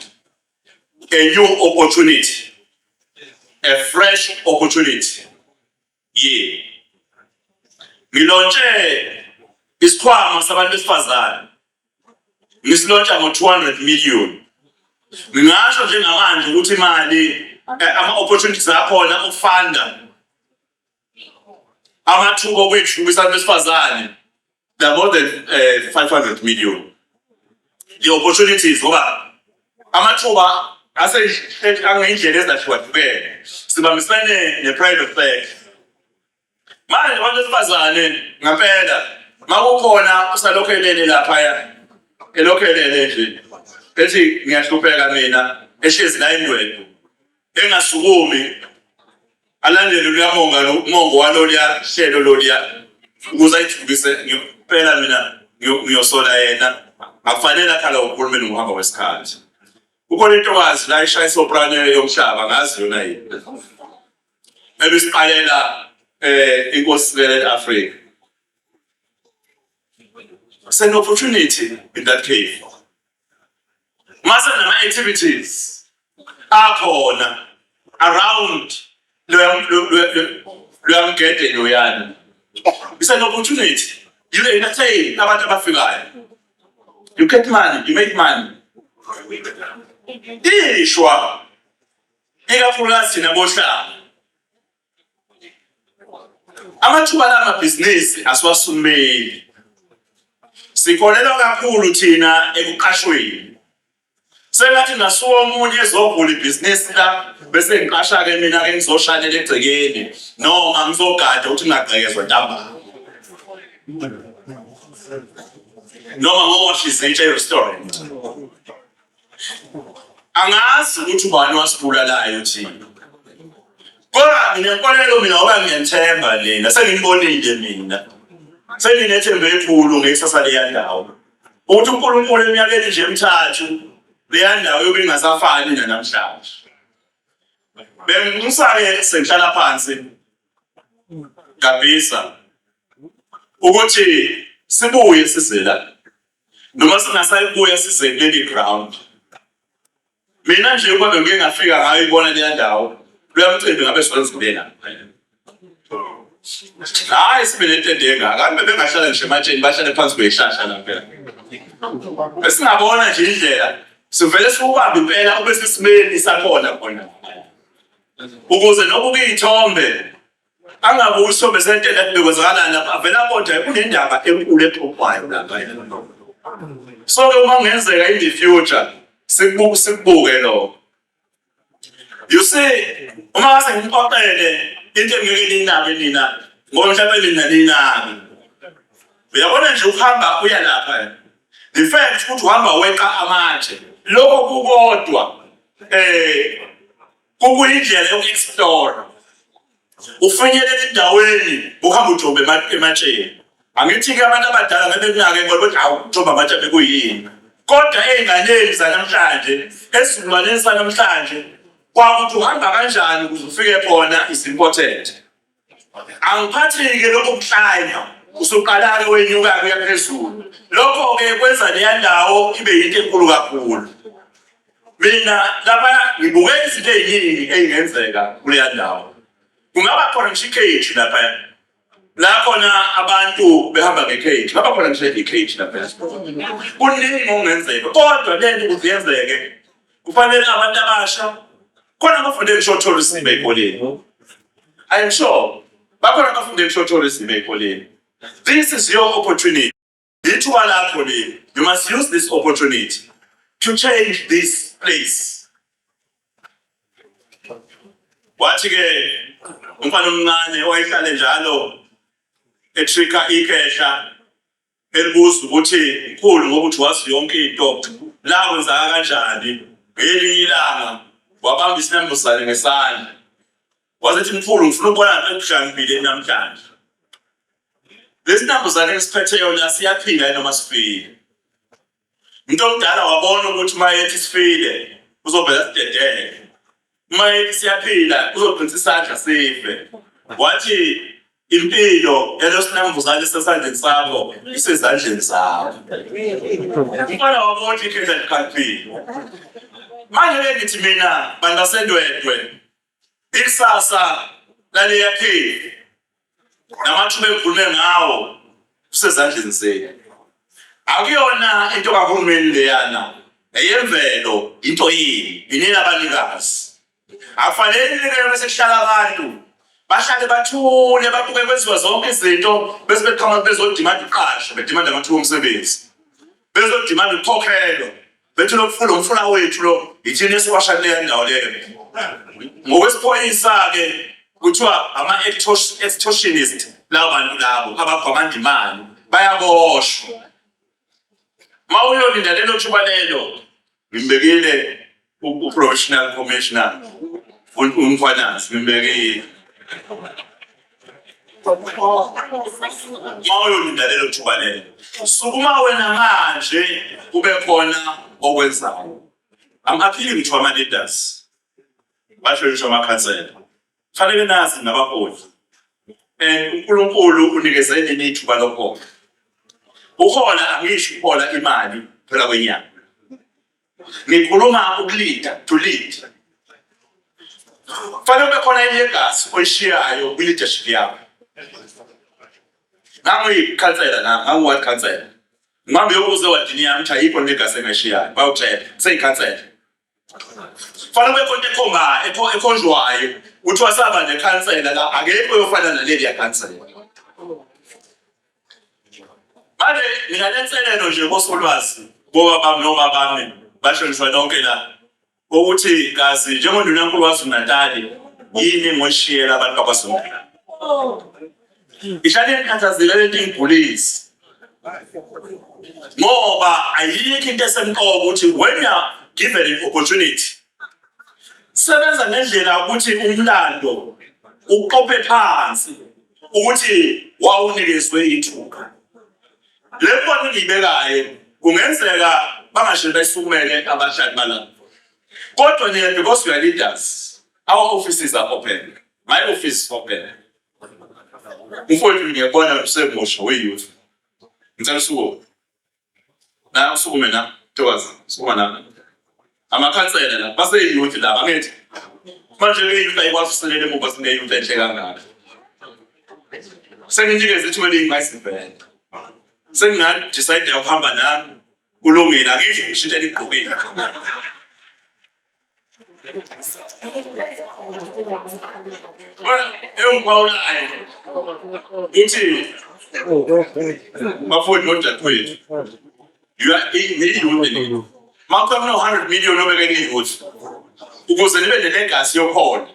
a new opportunity a fresh opportunity yenu. Ngilontshe isikhwama sabantu besifazane ngisilontsha ngo-200 million. Ngingasho njengamanje ukuthi imali eh, ama-opportunities akhona okufanda amathuba okwethukisa abantu besifazane they are more than uh, 500 million the opportunities ngoba amathuba aseyindlela ezahlukahlukene sibambisene ne-private sector manje abantu besifazane ngampela makukhona usalokhu elele laphaya elokhu elele nje ethi ngiyahlupheka mina ehlezi la indwedwe engasukumi alandele luyamonga umongo waloluya hlelo loluya ukuze ayithuthukise ngempela mina ngiyosola yena akufanele akhala uhulumeni ngokuhamba kwesikhathi kukhona intokazi la ishaya isoprano yomhlaba ngazi yona yini ebisiqalela eh inkosi sibele Africa it's an opportunity in that case mase nama activities akhona around loyamgede loyani it's an opportunity you entertain abantu abafikayo you get money you make money ishwa ikakhulukazi thina bohlanga Amathuba la mabhizinisi asiwasumeli. Sikholelwa kakhulu thina ekuqashweni. Sengathi ngasuka omunye ezovula ibhizinisi la bese ngiqasha ke mina ke ngizoshanela egcekeni noma ngizogada ukuthi ngingagqekezwa ntambama. Noma ngoshize i-chair restaurant. angazi ukuthi ubani wasibulalayo thina kodwa nginenkolelo mina ngoba ngiyanthemba lena sengiyibonile mina senginethemba elikhulu ngekusasa leyandawo ukuthi unkulunkulu eminyakeni nje emthathu leyandawo yobe ingasafani nanamhlanje bengimusake sengihlala phansi ngabisa ukuthi sibuye sizela noma singasayibuya size kuleli ground mina nje uma bengike ngafika ngayo ibona leya ndawo kuya mcimbi ngabe sizozibela hayi sibe netende engaka kambe bengahlala ngisho ematsheni bahlale phansi kweyihlahla la phela esingabona nje indlela sivele siwubambe impela ube sesimeni sakhona khona ukuze noba ukuyithombe angabe usombeze into ebekwenzakalani lapha avele abonje kunendaba enkulu exoxwayo lapha so ke uma kungenzeka in the future sikubuke sikubuke lokho you see uma ngase ngimxoxele into engeke ninabe nina ngoba mhlawumbe nina ninabe uyabona nje ukuhamba uya lapha the fact ukuthi uhamba weqa amatshe lokho kukodwa eh Kukuyindlela yoku-explore. Ufinyelela endaweni uhamba ujomba ema- ematsheni. Angithi-ke abantu abadala bebekunake ngoba ukuthi hawu ujomba amatshe bekuyini. Kodwa ey'nganeni zanamhlanje, esizukulwaneni sanamhlanje, kwakuthi uhamba kanjani ukuze ufike khona is important. Angiphathike lokho kuhlanya usuqalake wenyuka kuya phezulu. Lokho-ke kwenza leya ndawo ibe yinto enkulu kakhulu. Mina lapha ngibuke izinto ey'ningi ey'ngenzeka kuleya ndawo. Kungaba khona ngisho ikheji laphaya. La khona abantu behamba ngekheji, kungaba khona ngisho ikheji laphaya. Kuningi okungenzeka kodwa lento ukuze yenzeke. Kufanele abantu abasha khona abafunde ngishothola isinimba ekoleni. I'm sure bakhona abafunde ngishothola isinimba ekoleni. This is your opportunity. Ithuba lakho leli. You must use this opportunity to change this place. Wathi ke umfana omncane owayehlale njalo etrika ikhehla Elibuza ukuthi mkhulu ngoba uthi wazi yonke into la kwenzaka kanjani ngelinye ilanga wabamba isinambuzane ngesandla wasethi mkhulu ngifuna ukubona ngikushangibile namhlanje lesinambuzane esiphetheyo la siyaphila noma sifile Umuntu omdala wabona ukuthi uma ethi sifile uzovela sidedele. Uma ethi siyaphila uzoqinisa isandla sife. Wathi impilo elosinambuzane sesandleni sakho isezandleni zakho. Umfana wabona ikhenza liqaliphi. Manje ke ngithi mina bantu basendwedwe Ikusasa laliyakhile namathuba evume ngawo kusezandleni zenu. Akuyona into kahulumeni leyana eyemvelo into yini inina abanikazi. Akufanele ninikele bese kuhlala abantu bahlale bathule babuke kwenziwa zonke izinto bese beqhamuka bezodimanda uqasho bedimanda amathuba omsebenzi bezodimanda ukukhokhelwa Bethu lo mfula umfula wethu lo yithini esiwashani leya ndawo leyo. Ngokwesiphoyisa-ke kuthiwa ama-extortionist laba bantu labo abagwamanda imali bayaboshwa. Uma uyolinda lelo thuba lelo ngimbekile u-professional commissioner umkhwanazi ngimbekile. uma uyolinda lelo thuba lelo sukuma wena manje kube khona okwenzayo i'm appealing to ama leaders basho ngisho amakhansela fanele nazi nabaholi and uNkulunkulu unikeze nini ithuba lokuhola uhola angisho uhola imali phela kwenyanga ngikhuluma ukulinda to lead kufanele kube khona enye igasi oyishiyayo kwi-leadership yakho ngangiyikhansela la ngangiward khansela ngihambe yokuze wadini yami ukuthi ayikho nto igasi engayishiyayo bayokutshela seyikhansela kufanele kube khona ekhombayo ekhonjwayo kuthiwa saba nekhansela la akekho yofana naleli yakhansela Manje mina lenselelo nje kosolwazi boba bami noma bami bahlonishwa nonke la ukuthi kazi njengondunankulu waZulu-Natali yini engoyishiyela abantu bakwaZulu-Natali ihlale ikhathazile lento ingigulisi ngoba ayikho into esemqoka ukuthi when you are given an opportunity Sebenza ngendlela ukuthi umlando uqophe phansi ukuthi wawunikezwe ithuka. Le mbono engiyibekayo kungenzeka bangashele bayisukumele abadlali balapho. Kodwa nina because you are leaders, our offices are open. My office is open. Mfowethu ngiyabona usemusha we-youth. Ngicela usukume. Naye usukume na ntokazi sukuma na. Amakhansela la baseyiyouth la angithi. Manje ke iyouth ayikwazi usilela emuva sineyouth enhle kangaka. Senginikeza ithuba eliyimase vele. Sengingathi decide ukuhamba nami kulungile angithi ngishintshe ligqokile. Mafowethu nodadewethu, you are in million. Mawucela mina 100 million obeke kuyouth. Ukuze nibe nelegacy yokhona.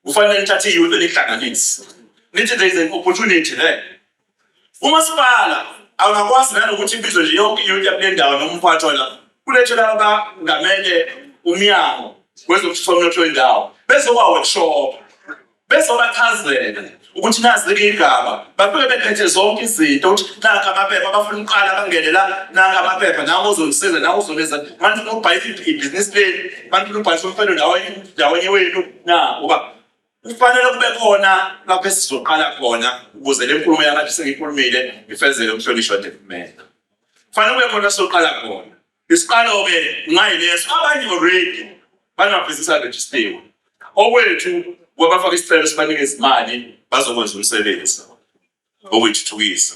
Kufanele nithathe iyouth nihlanganise. Nithi there is an opportunity there. Umasipala awungakwazi nanokuthi ibizwe nje yonke iyunithi yakule ndawo noma umphathi wala kulethela abangamele umyango wezokuthutha umnotho wendawo bezoba-workshop bezobachazela ukuthi nazi-ke igaba bafike bephethe zonke izinto ukuthi nakho amaphepha abafuna ukuqala bangene la nakho amaphepha nawo ozolisiza nawo uzoleza manje ubhayisa ibhizinisi lenu manje ubhayisa umfelo ndawenye wenu na uba kufanele kube khona lapho esizoqala khona ukuze le nkulumo yami athi sengiyikhulumile ngifezele umhlonishwa development kufanele kube khona soqala khona isiqalo-ke ngayileso abanye already banamabhizinisi arejistiwe okwethu kwabafaka isicelo sibanike izimali bazokwenza umsebenzi okuyithuthukisa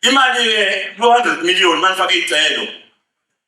imali-ke lo-hundred million manifaka iy'celo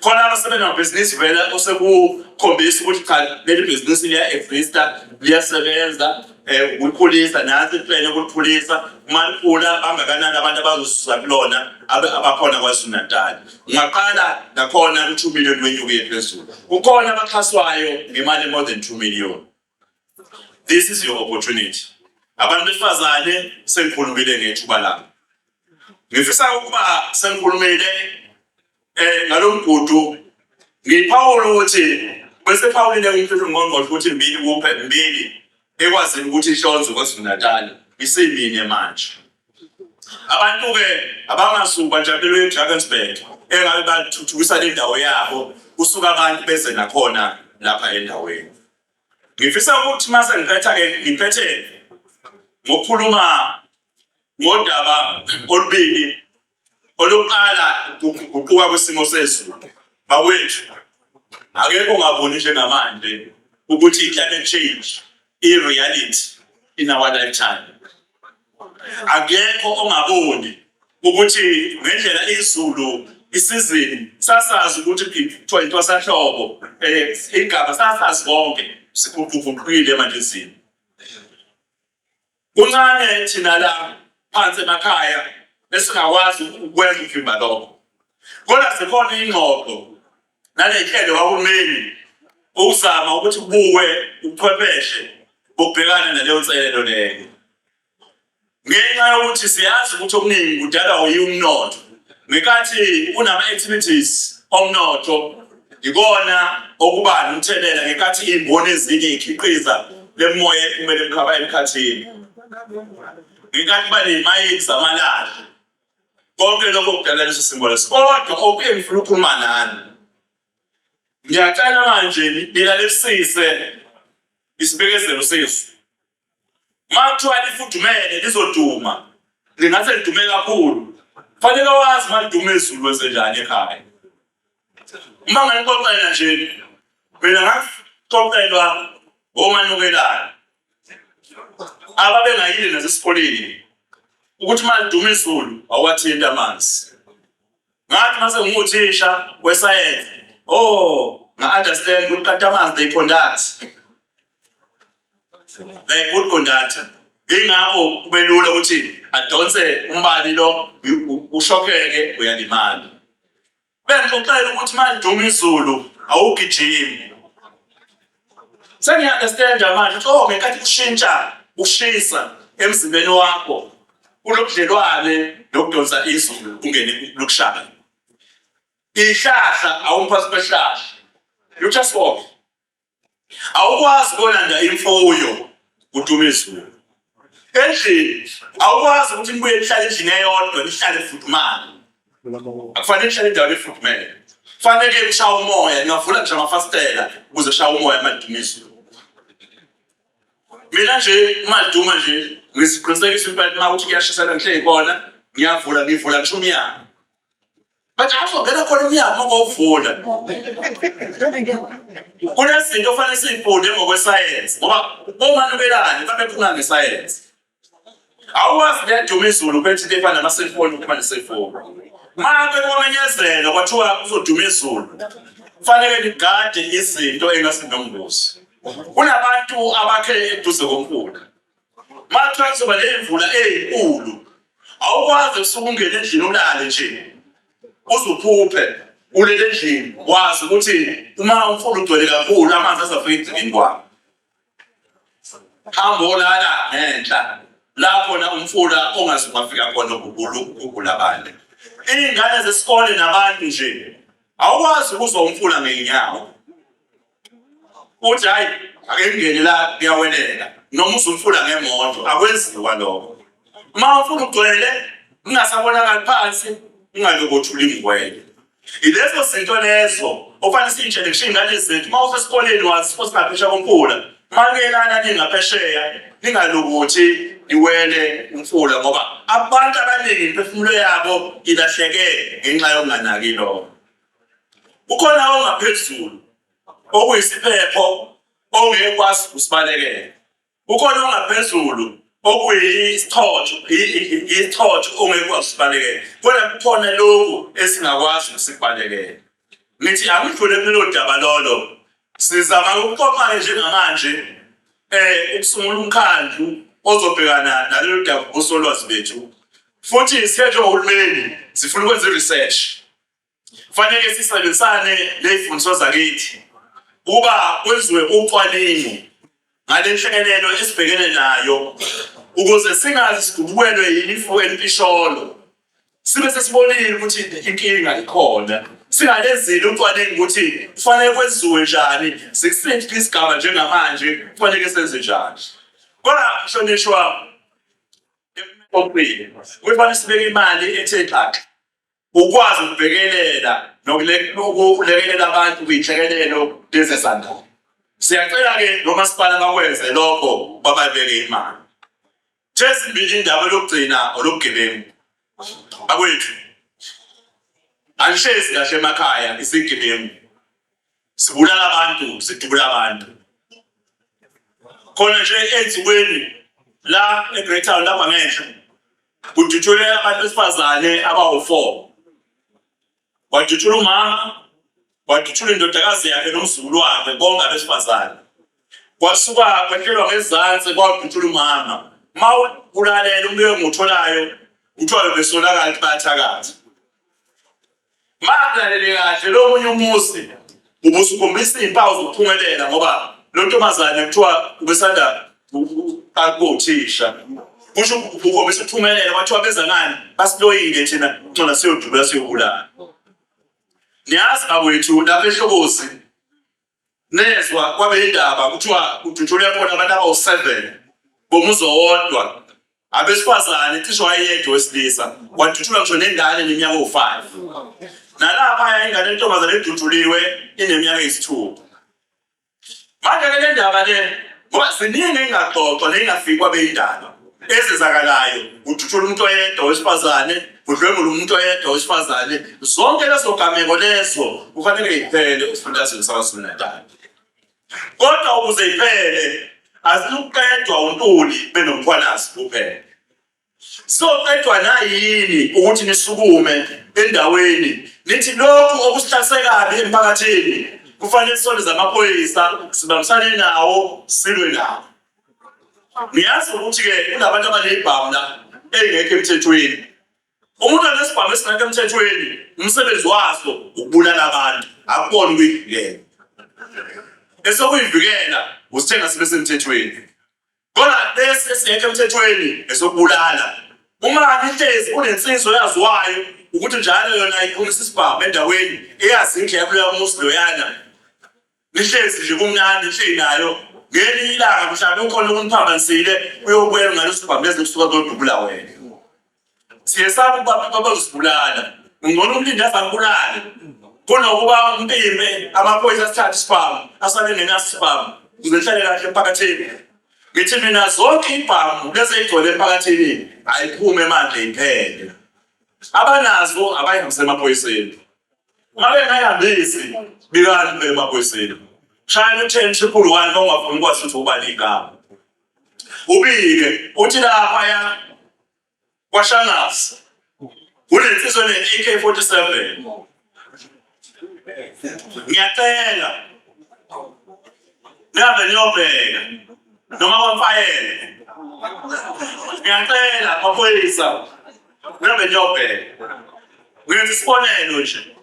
khona abasebenamabhizinisi vele osekukhombisa ukuthi cha leli bhizinisi liya-exista liyasebenza um ukulikhulisa nansi iplane ukulikhulisa uma likhula bangakanani abantu abazosusa kulona abakhona kwazulu-natali ungaqala nakhona ku-two million wenyuke phezulu kukhona abaxhaswayo ngemali e-more than two million This is your opportunity. Abantu besifazane sengikhulumile ngethuba lami. Ngifisa ukuba sengikhulumile eh ngalomgudu ngiphawula ukuthi bese phawulile umthetho ngqongqoshe ukuthi mbili kuphe mbili ekwazi ukuthi ihlonze kwaZulu-Natal isimine manje. Abantu ke abamasuku bajabule eDrakensberg engabe bathuthukisa le ndawo yabo kusuka abantu beze nakhona lapha endaweni. Ngifisa ukuthi uma sengiphetha-ke ngiphethe ngokukhuluma ngodaba olubili oluqala ukuguquka kwesimo sezulu bakwethu akekho ongaboni njengamanje ukuthi i-climate change i-reality in our lifetime akekho ongaboni ukuthi ngendlela izulu isizini sasazi ukuthi kuthiwa intwasahlobo um eh, igaba sasazi konke siguquguqukile manje izini kuncane thina la phansi emakhaya esingakwazi ukwenza ukuvimba lokho kodwa zikhona iy'ngxoxo Nalenhlelo kahulumeni ukuzama ukuthi kubuwe ubuchwepheshe bokubhekana naleyo nselelo leyo. Ngenxa yokuthi siyazi ukuthi okuningi kudalwa uyiwo umnotho. Ngenkathi kunama-activities omnotho yikona okuba nomthelela ngenkathi iy'mboni ezinye ikhiqiza le moya ephumele emkhathini. Ngenkathi kuba ney'mayini zamalahle konke lokho kudala leso simo leso kodwa okuye ngifuna ukukhuluma nani ngiyacela manje nilalisise isibekezelo sesu uma kuthiwa lifudumele lizoduma lingase lidume kakhulu fanele wazi uma liduma ezulu wenzenjani ekhaya uma ngalixoxela nje mina ngaxoxelwa omanukelayo ababengayile nasesikoleni ukuthi uma liduma izulu awuwathinti amanzi ngathi mase nginguthisha wesayensi o oh, nga-understand ukuthi kati amanzi they conduct they good conductor ingakho kube lula ukuthi adonse umbani lo ushokeke uyalimala Uyanixoxela ukuthi manje uma izulu awugijimi. Sengiya-understand manje ukuthi oh ngenkathi kushintsha ushisa emzimbeni wakho kunobudlelwane nokudonsa izulu ungene lokushaya. Ihlahla awumphathi behlahla. You just walk. awukwazi ukolanda imfuyo kuduma izulu endlini awukwazi ukuthi nibuye nihlale endlini eyodwa nihlale fudumale akufanele nihlale endaweni efudumele fanele kushawa umoya ningavula nje amafasitela ukuze kushawa umoya amaduma izulu mina nje umaduma nje ngisiqinisekisa impela uma ukuthi kuyashisa la ngihleli khona ngiyavula ngivula ngisho umyanga Manje azongena khona emnyango ngokuvula. Kunezinto ofanele sizifunde ngokwesayensi ngoba omanubelane babephuma ngesayensi. Awukwazi kuyaduma izulu bethi into efana nama-cellphone ukuba ne-cellphone. Uma bekomenyezela kwathiwa kuzoduma izulu, kufanele nigade izinto engasinobungozi. Kunabantu abakhe eduze komfula. Makuthiwa kuzoba ney'mvula ey'nkulu, awukwazi usuke ungene endlini ulale nje uzuphuphe ulele endlini wazi ukuthi uma umfula ugcwele kakhulu amanzi azafika egcikini kwakho hamba olala ngenhla lapho na umfula ongaze ungafika khona ukugula ukugula abantu iy'ngane zesikole nabantu nje awukwazi ukuzwa umfula ngey'nyawo uthi hayi ake ngingene la ngiyawelela noma uzumfula ngemoto akwenziwa lokho uma ufuna ugcwele ungasabonakali phansi ungalokothuli ngwele ilezo zinto lezo ofanele siyitshele kusho iy'ngane zethu uma usesikoleni wazi futhi ngaphesha komfula makelana ningaphesheya ningalokuthi niwele umfula ngoba abantu abaningi imiphefumulo yabo ilahleke ngenxa yokunganaki lokho Kukhona ongaphezulu okuyisiphepho ongeke kwazi ukusibalekela. Kukhona ongaphezulu okuyisithotho isithotho ongeke kwazi ukusibalekela. Kodwa kukhona lokhu esingakwazi ukusibalekela. Ngithi angidlule kulelo daba lolo. Sizama ukuxoxa-ke njengamanje um ukusungula umkhandlu ozobhekana nalolu daba osolwazi bethu futhi siye njengohulumeni sifuna ukwenza i-research Kufanele sisebenzisane nezimfundiso zakithi ukuba kwenziwe ucwaningo ngale nhlekelelo esibhekene nayo ukuze singazi sidubukelwe yilifu elimpisholo sibe sesibonile ukuthi inkinga ikhona singalenzile ucwaningo ukuthi kufanele kwenziwe njani sikusiphi isigaba njengamanje kufanele senze njani kodwa mhlonishwa okuqile kufanele sibeke imali ethe xaxa ukwazi ukubhekelela nokulekelela abantu kuyinhlekelelo lezezandalo siyacela-ke nomasipala bakwenze lokho babaluleke imali thezimbili indaba lokugcina olobugebengu akwethu anishezi kahle emakhaya isigebengu sibulala abantu sidubula abantu khona nje ezikweni la eGreytown lapha ngenhla kudutshulwe abantu besifazane abawu-four wadutshula umama wadutshula indodakazi yakhe nomzukulu wakhe bonke abesifazane kwasuka kwehlelwa ngezansi kwadutshula umama ma ulalela umbiko engiwutholayo kuthiwa bebesonakala ukuthi bayathakaza Mangilalele kahle lo munye umusi ubusukhombisa izimpawu zokuphumelela ngoba lo ntombazane kuthiwa ubesanda akuthisha kusho ukhombisa ukuphumelela kwathiwa beza ngani basiloyile thina ncona siyodubula siyobulala niyazi bakwethu lapha ehlokozi nezwa kwabe indaba kuthiwa kudutshulwe khona abantu abawu-seven bomuzi owodwa abesifazane cishe wayeyedwa wesilisa wadutshulwa ngisho nengane neminyaka owu-five nalaphaya ingane entombazane edutshuliwe ineminyaka eyisithupha manje-ke le ndaba le ngoba ziningi engingaxoxwa neyingafikwa beyindaba ezenzakalayo udutshula umuntu oyedwa wesifazane udlwengula umuntu oyedwa wesifazane zonke lezo gameko lezo kufanele iphele esifundazweni sakwazulu-natal kodwa ukuze iphele aziluqedwa untuli benomkhwanazi kuphela soqedwa nayini ukuthi nisukume endaweni nithi lokhu okusihlase kabi emphakathini kufanele sisondeze amaphoyisa sibambisane nawo silwe nawo ngiyazi ukuthi-ke kunabantu abaneyibhamu la eyingekho emthethweni umuntu anesibhamu esingekho emthethweni umsebenzi waso ukubulala abantu akubona ukuyivikela esokuyivikela usithenga sibe semthethweni kodwa lesi esingekho emthethweni esokubulala uma ihlezi kunensizwa eyaziwayo ukuthi njalo yona iphumisa isibhamu endaweni eyazi indlela kuleyo muzi loyana Nihlezi nje kumnandi nje nayo ngelinye ilanga mhlawumbe ukhona okuniphambanisile uyokwela ungalosibhambeza kusuka kodubula wena siye sabe ukuba abantu abazosibulala ngcono umlindi azakubulale kunokuba umpimbe amaphoyisa asithathe isibhamu asale nenaso isibhamu kuze nihlale kahle emphakathini ngithi mina zonke ibhamu lezi eyigcwele emphakathini ayiphume manje iphele abanazo abayihambise emaphoyiseni Ngabe ngayandisi bikani phela emaphoyiseni. Shayela u-ten triple one uma ungafuni ukwazi ukuthi ubani igama. Ubike uthi laphaya kwaShangase unensizwa ne-AK 47 ngiyacela nihambe niyobheka noma bamfayele ngiyacela maphoyisa Ngihambe ngiyobheka. Ngenza isibonelo nje.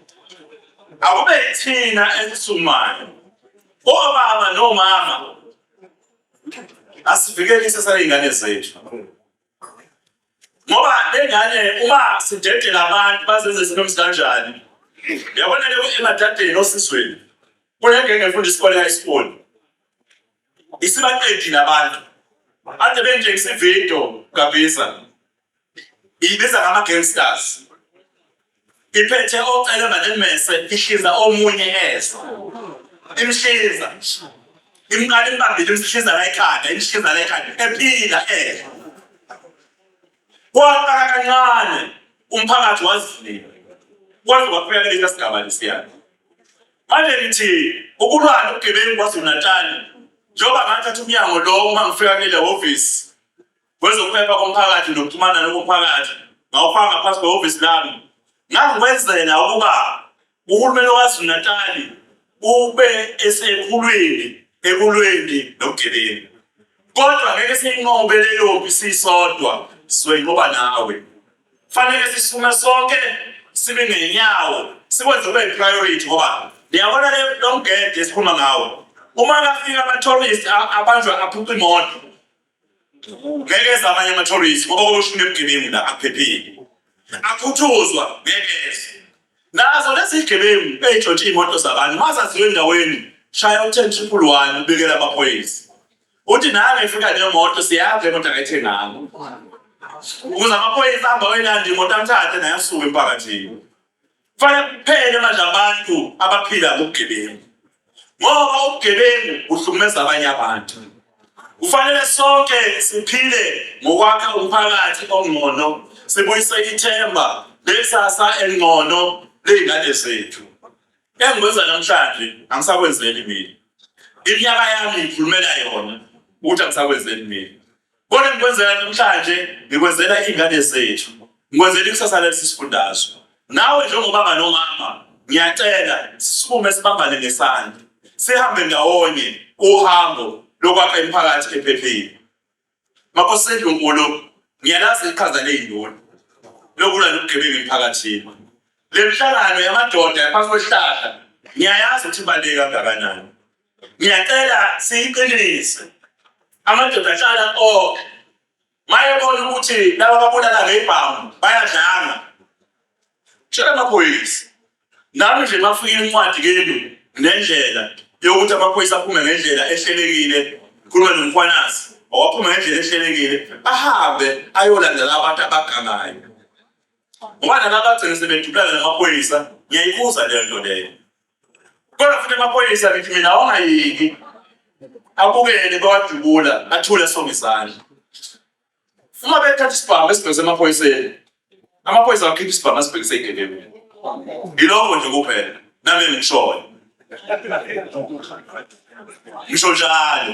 Akube yithina esisumayo. Obaba nomama asivikele isasa ley'ngane zethu ngoba lengane uma sidedela abantu bazenze izinto ezikanjani yabona leyo emadadeni osizweni kunengenge efunda isikole high school isibaqedile abantu ade benje isivido kabisa ibiza ngama gangsters iphethe ocela malemese ihliza omunye ezwa imhliza imqala imbambile imhliza la ekhanda imhliza la ekhanda ephila eh kwaqala kancane umphakathi wazivile kwaze kwaphela lesi sigaba lesiyana manje ngithi ukulwana ugebengu kwaZulu-Natal njengoba ngathatha umnyango lo uma ngifika kuleli hhovisi Kwezokuphepha komphakathi nokuxhumana nokomphakathi ngawufaka ngaphansi kwehhovisi lami ngangikwenzela ukuba uhulumeni waKwaZulu-Natali ube esekhulwini ekulweni nobugebengu kodwa ngeke siyinqobe leyo mpi sisodwa sizoyinqoba nawe fanele sisume sonke sibe ngenyawo sikwenze kube priority ngoba niyabona le lomgede esikhuluma ngawo uma kafika ama-tourist abanjwa aphuca imoto ngeke eze amanye ama-tourist ngoba kuloshumi ebugebengu la akuphephile akhuthuzwa ngeke eze nazo lezi zigebengu ey'ntshontshe iy'moto zabantu mazaziwe endaweni shaya u-ten triple one ubikela amaphoyisa uthi nami ngifika nemoto siyazi lemoto akayithenganga ukuze amaphoyisa ahamba wenandi imoto amthathe naye asuke emphakathini Kufanele kuphele manje abantu abaphila ngobugebengu ngoba ubugebengu buhlukumeza abanye abantu. Kufanele sonke siphile ngokwakha umphakathi ongcono, sibuyise ithemba lekusasa elingcono ley'ngane zethu. Engikwenza namhlanje angisakwenzeli mina. Iminyaka yami ngikhulumela yona ukuthi angisakwenzeli mina. Kodwa ngikwenzela namhlanje ngikwenzela ingane zethu. Ngikwenzela ikusasa lesi sifundazwe. Nawe njengobaba nomama ngiyacela sisukume sibambane ngesandla. Sihambe ndawonye uhambo lokwakha imiphakathi ephephile. Makosendlu nkulu ngiyalazi iqhaza leyindoni lokulwa nobugebengu emphakathini. Le mihlangano yamadoda yaphansi kwesihlahla ngiyayazi ukuthi ibaluleke kangakanani. Ngiyacela siyiqinise amadoda ahlala onke mayebona ukuthi laba babulala ngebhamu bayadlanga tshela amaphoyisa nami nje mafika incwadi kenu nendlela yokuthi amaphoyisa aphume ngendlela ehlelekile khuluma nomkhwanazi owaphuma ngendlela ehlelekile ahambe ayolandela abantu abagangayo ngoba nalaba agcine sebedubulana namaphoyisa ngiyayibuza leyo nto leyo Kodwa futhi amaphoyisa ngithi mina awangayeki abukele bawadubula athule sonke izandla. Uma bethatha isibhamu esibhekise emaphoyiseni, amaphoyisa akhipha isibhamu asibhekise ey'gebengwini. Yiloko nje kuphela nami engishoyo. Ngisho njalo.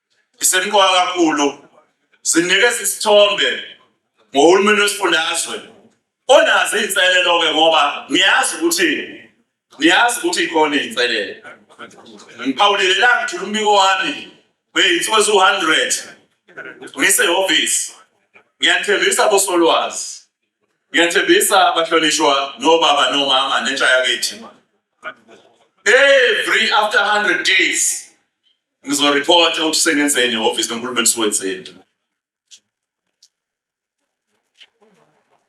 isemqoka kakhulu sinikeza isithombe ngohulumeni wesifundazwe onazo iy'nselelo-ke ngoba niyazi ukuthi niyazi ukuthi ikhona iy'nselelo ngiphawulile la ngithula umbiko wami beyinsuku eziwu-hundred ngisehhovisi ngiyathembisa bosolwazi ngiyathembisa abahlonishwa nobaba nomama nentsha yakithi every after 100 days Ngizoripota okusengenzeni ehhovisi lonkulumo eliswenzeni.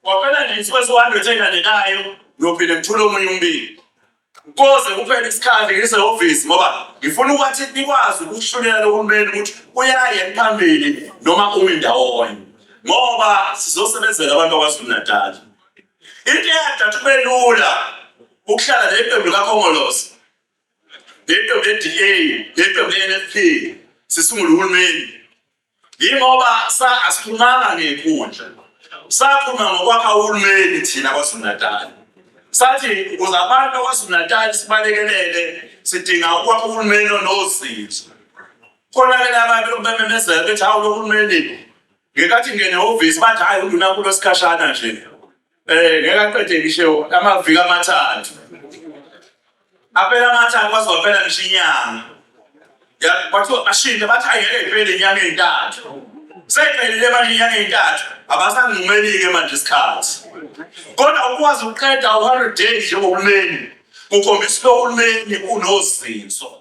Kwaphela nje insuku eziwu-hundred eyilandelayo ngiyophinde ngithule omunye umbiko koze kuphele isikhathi ngisehhovisi ngoba ngifuna ukuthi nikwazi ukuhlulela lohulumeni ukuthi uyaye phambili noma umi ndawonye ngoba sizosebenzela abantu bakwazulu-natali into eyadathi kube lula ukuhlala neqembu likakhongolosi ngeqembu le-DA ngeqembu le-NFP sisungula uhulumeni yingoba sa asikhulumanga ngenkundla sakhuluma ngokwakha uhulumeni thina KwaZulu-Natal sathi ukuze abantu KwaZulu-Natal sibalekelele sidinga ukwakha uhulumeni onozinzo khona-ke labantu bememezela bethi hawu lo hulumeni ngenkathi ngenehhovisi bathi hhayi undunakulu wesikhashana nje Eh ngeke aqede ngisho amaviki amathathu. Aphela amathathu kwaze kwaphela ngisho inyanga. Ya kwathiwa ashinde bathi ayeke iphele inyanga ezintathu. Seyiphelile manje inyanga ezintathu abasangimelike manje isikhathi. Kodwa ukwazi ukuqeda u-100 days njengohulumeni kukhombisa ukuthi uhulumeni unozinzo.